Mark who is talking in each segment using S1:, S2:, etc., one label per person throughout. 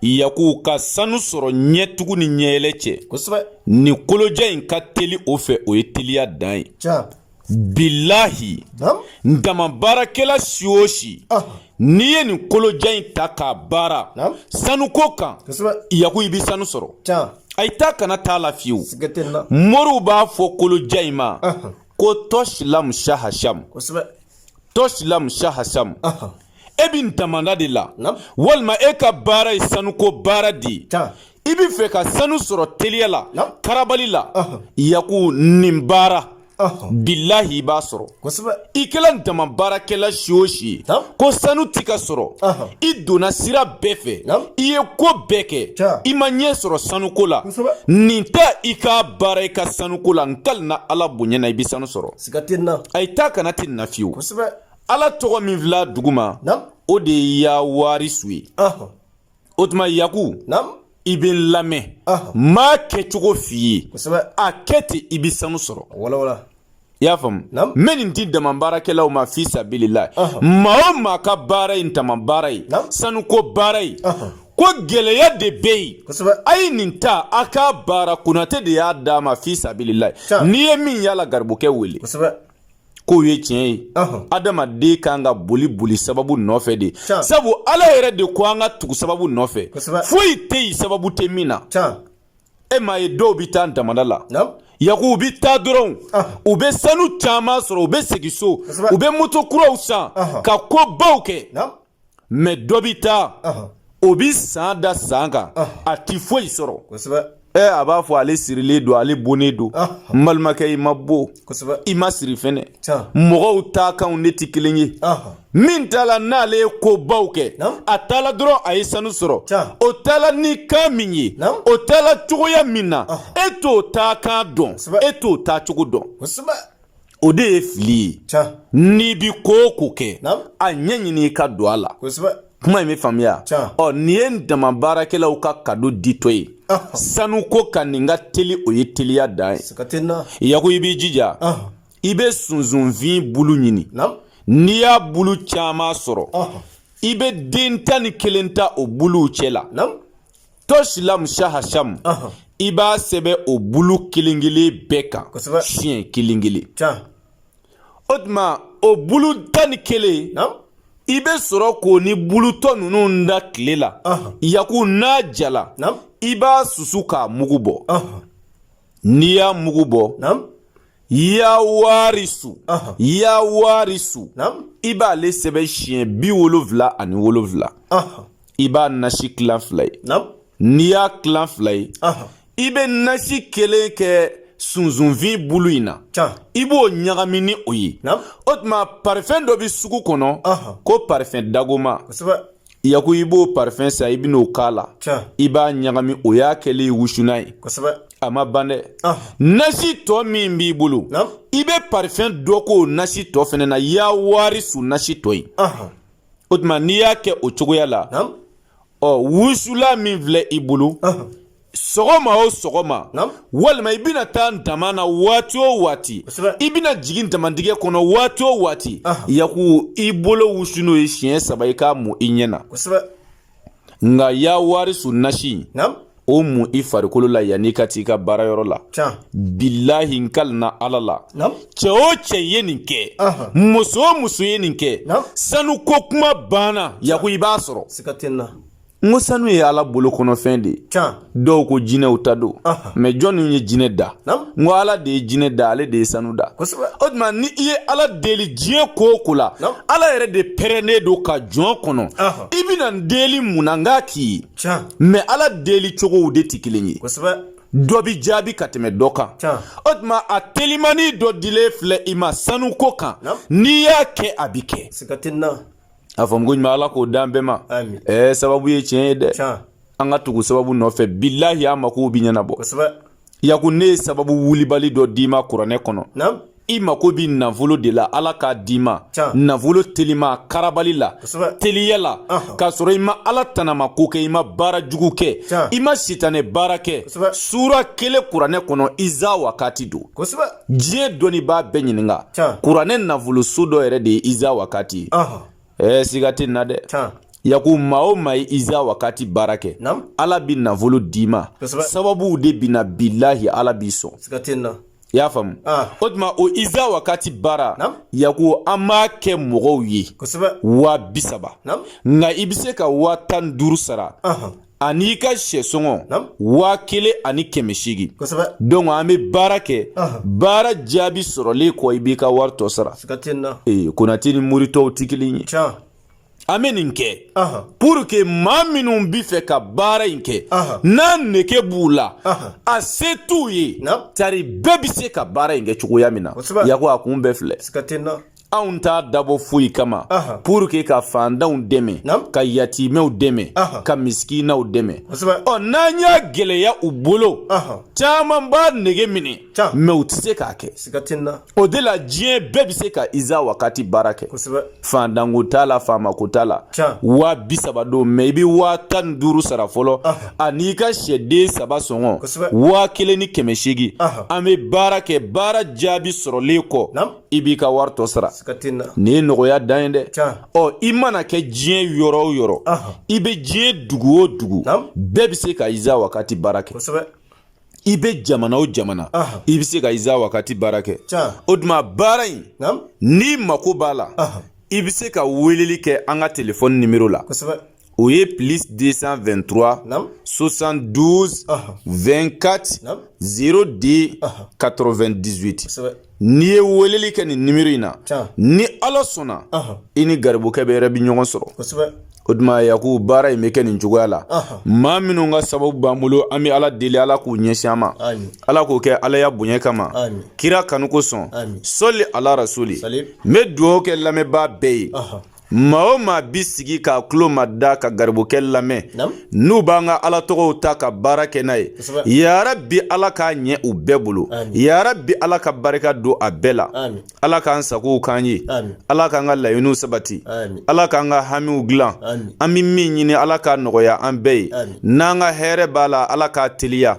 S1: yaku ka sanu sɔrɔ ɲɛtugu ni ɲɛyɛlɛ cɛ ni kolojan in ka teli o fɛ o ye teliya dan ye bilahi dama baarakɛla si o si n'i ye nin kolojan in ta k'a baara sanuko kan yaku i bɛ sanu sɔrɔ a ye taa kana t'a la fiyewu moriw b'a fɔ kolojan in ma ko tɔsi lamu saha samu tɔsi lamu saha samu e bɛ damanda de la walima e ka baara ye sanuko baara de ye i bɛ fɛ ka sanu sɔrɔ teliya la karabali la yaku nin baara bilahi i b'a sɔrɔ i kɛla dama baarakɛla si o si ye ko sanu ti ka sɔrɔ i donna sira bɛɛ fɛ i ye ko bɛɛ kɛ i ma ɲɛ sɔrɔ sanuko la nin ta i k'a baara i ka sanuko la n kali na ala bonya na i bɛ sanu sɔrɔ a ye taa kana ti na fiyewu ala tɔgɔ min fil'a duguma o de ye ya warisu ye o tuma yaku i bɛ n lamɛn n b'a kɛcogo f'i ye a kɛ ten i bɛ sanu sɔrɔ i y'a faamu n bɛ nin di dama baarakɛlaw ma fi sabilila maa o maa ka baara ye dama baara ye sanuko baara ye ko gɛlɛya de bɛ yen a ye nin ta a k'a baara konatɛ de y'a d'a ma fi sabilila n'i ye min yala garibukɛ wele k'o ye tiɲɛ ye adamaden kan ka boli boli sababu nɔfɛ de sabu ala yɛrɛ de ko an ka tugu sababu nɔfɛ foyi tɛ yen sababu tɛ min na e m'a ye dɔw bɛ taa damada la yaku u bɛ taa dɔrɔn u bɛ sanu caman sɔrɔ u bɛ segin so u bɛ moto kuraw san ka ko baw kɛ mɛ dɔ bɛ taa o bɛ san da san kan a tɛ foyi sɔrɔ ɛ a b'a fɔ ale sirilen don ale bonnen don n balimakɛ i ma bon i ma siri fɛnɛ mɔgɔw taa kanw ne tɛ kelen ye min taala n'ale ye ko baw kɛ a taala dɔrɔn a ye sanu sɔrɔ o taala ni kan min ye o taala cogoya min na e t'o taa kan dɔn e t'o taa cogo dɔn o de ye fili ye n'i bi ko o ko kɛ a ɲɛ ɲini i ka don a la kuma in bɛ faamuya ɔ nin ye dama baarakɛlaw ka kado ditɔ ye sanuko kan nin ka teli o ye teliya dan ye yaku i b'i jija i bɛ sunsunfin bulu ɲini n'i y'a bulu caman sɔrɔ i bɛ den tan ni kelen ta o buluw cɛ la tɔsilamu sahasamu i b'a sɛbɛn o bulu kelen kelen bɛɛ kan siɲɛ kelen kelen o tuma o bulu tan ni kelen i bɛ sɔrɔ k'o ni bulu tɔ ninnu da tile la yaku n'a jala i b'a susu k'a mugu bɔ n'i y'a mugu bɔ ya warisu ya warisu i b'ale sɛbɛn siɲɛ biwolonfila ani wolonfila i b'a nasi kilan fila ye n'i y'a kilan fila ye i bɛ nasi kelen kɛ sunsunfin bulu in na i b'o ɲagami ni o ye o tuma parifɛn dɔ bɛ sugu kɔnɔ ko parifɛn dagoma yaku i b'o parifɛn san i bɛn'o k'a la i b'a ɲagami o y'a kɛlen ye wusulan ye a ma ban dɛ ah. nasi tɔ min b'i bolo i bɛ parifɛn dɔ k'o nasi tɔ fɛnɛ na ya warisu nasi tɔ ye o tuma n'i y'a kɛ o cogoya la ɔ wusulan min filɛ i bolo sɔgɔma o sɔgɔma walima i bɛna taa dama na waati o waati i bɛna jigin damatigɛ kɔnɔ waati o waati yaku i bolo wusu n'o ye siɲɛ saba i k'a mun i ɲɛ na nka ya warisu nasi o mun i farikolo la yanni ka t'i ka baarayɔrɔ la bilahi n kalina ala la cɛ o cɛ ye nin kɛ muso o muso ye nin kɛ sanuko kuma banna yaku i b'a sɔrɔ n ko sanu ye ala bolo kɔnɔfɛn de ye dɔw ko jinɛw ta don mɛ jɔnni ye jinɛ da n ko ala de ye jinɛ da ale de ye sanu da o tuma ni i ye ala deli diɲɛ ko o ko la ala yɛrɛ de pɛrɛnnen don ka jɔn kɔnɔ i bɛna n deli mun na n k'a k'i ye mɛ ala deli cogow de tɛ kelen ye dɔ bi jaabi ka tɛmɛ dɔ kan o tuma a telimani dɔ dilen filɛ i ma sanuko kan n'i y'a kɛ a bi kɛ A faamu koɲuman ala k'o d'an bɛɛ ma sababu ye tiɲɛ ye dɛ an ka tugu sababu nɔfɛ bilahi an mako bɛ ɲɛnabɔ yaku ne ye sababu wulibali dɔ d'i ma kuranɛ kɔnɔ i mako bɛ nafolo de la ala k'a d'i ma nafolo telima karabali la teliya la k'a sɔrɔ i ma ala tanama ko kɛ i ma baara jugu kɛ i ma sitanɛ baara kɛ sura kelen kuranɛ kɔnɔ iza wakati don diɲɛ dɔnnibaa bɛɛ ɲininka kuranɛ nafoloso dɔ yɛrɛ de ye iza wakati ye ɛɛ siga tɛ n na dɛ yaku maa o maa ye iza wakati baara kɛ ala bi nafolo d'i ma sababuw de bi na bilahi ala b'i sɔn i y'a faamu o tuma o iza wakati baara yaku an b'a kɛ mɔgɔw ye waa bisaba nka i bɛ se ka waa tan duuru sara an'i ka syɛsɔngɔ waa kelen ani kɛmɛ seegin donc an bɛ baara kɛ baara jaabi sɔrɔlen kɔ i b'i ka wari tɔ sara ee konatɛ ni mori tɔw tɛ kelen ye an bɛ nin kɛ pour que maa minnu b'a fɛ ka baara in kɛ n'a nege b'u la a se t'u ye tari bɛɛ bɛ se ka baara in kɛ cogoya min na yaku a kun bɛɛ filɛ anw t'a dabɔ foyi kama pour que ka fandanw dɛmɛ ka yatimɛw dɛmɛ ka misikinaw dɛmɛ ɔ n'an y'a gɛlɛya u bolo caman b'a nege minɛ mais u tɛ se k'a kɛ o de la diɲɛ bɛɛ bɛ se ka iza wakati baara kɛ fandanko t'a la faamako t'a la waa bi saba don mais i bɛ waa tan ni duuru sara fɔlɔ an'i ka sɛden saba sɔngɔ waa kelen ni kɛmɛ seegin an bɛ baara kɛ baara jaabi sɔrɔlen kɔ i b'i ka wari tɔ sara nin ye nɔgɔya dan ye dɛ ɔ i mana kɛ diɲɛ yɔrɔ o yɔrɔ i bɛ diɲɛ dugu o dugu bɛɛ bɛ se ka iza wakati baara kɛ i bɛ jamana o jamana i bɛ se ka iza wakati baara kɛ o tuma baara in n'i mako b'a la i bɛ se ka weleli kɛ an ka telefɔni nimero la o ye plus 223 Naam. 72 Aha. 24 Naam. 02 Aha. 98 kosɛbɛ n'i ye weleli kɛ nin nimero in na Tiɲɛ. ni ala sɔnna Aha. i ni garibukɛ bɛ yɛrɛ bi ɲɔgɔn sɔrɔ kosɛbɛ o tuma yaku baara in bɛ kɛ nin cogoya la Aha. maa minnu ka sababu b'an bolo an bɛ ala deli ala k'u ɲɛsin an ma Amin. ala k'o kɛ ala ya bonya kama Amin. kira kanu kosɔn Amin. sɔli ala rasuli Salim. n bɛ dugawu kɛ lamɛnbaa bɛɛ ye Aha. maa o maa bi sigi k'a tulo mada ka garibukɛ lamɛn n'u b'an ka ala tɔgɔw ta ka baara kɛ n'a ye yarabi ala k'a ɲɛ u bɛɛ bolo yarabi ala ka barika don a bɛɛ la ala k'an sagow k'an ye ala k'an ka laɲiniw sabati ala k'an ka hamiw dilan an bɛ min ɲini ala k'a nɔgɔya an bɛɛ ye n'an ka hɛrɛ b'a la ala k'a teliya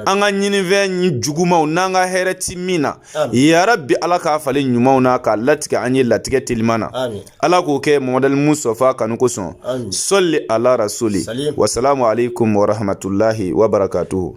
S1: an ka ɲininfɛn jugumanw n'an ka hɛrɛ ti min na yarabi ala k'a falen ɲumanw na k'a latigɛ an ye latigɛ teliman na ala k'o kɛ muhammad al mustafa kanu kosɔn sɔli ala rasuli wasalamu alekum warahmatulahi wabarakatuhu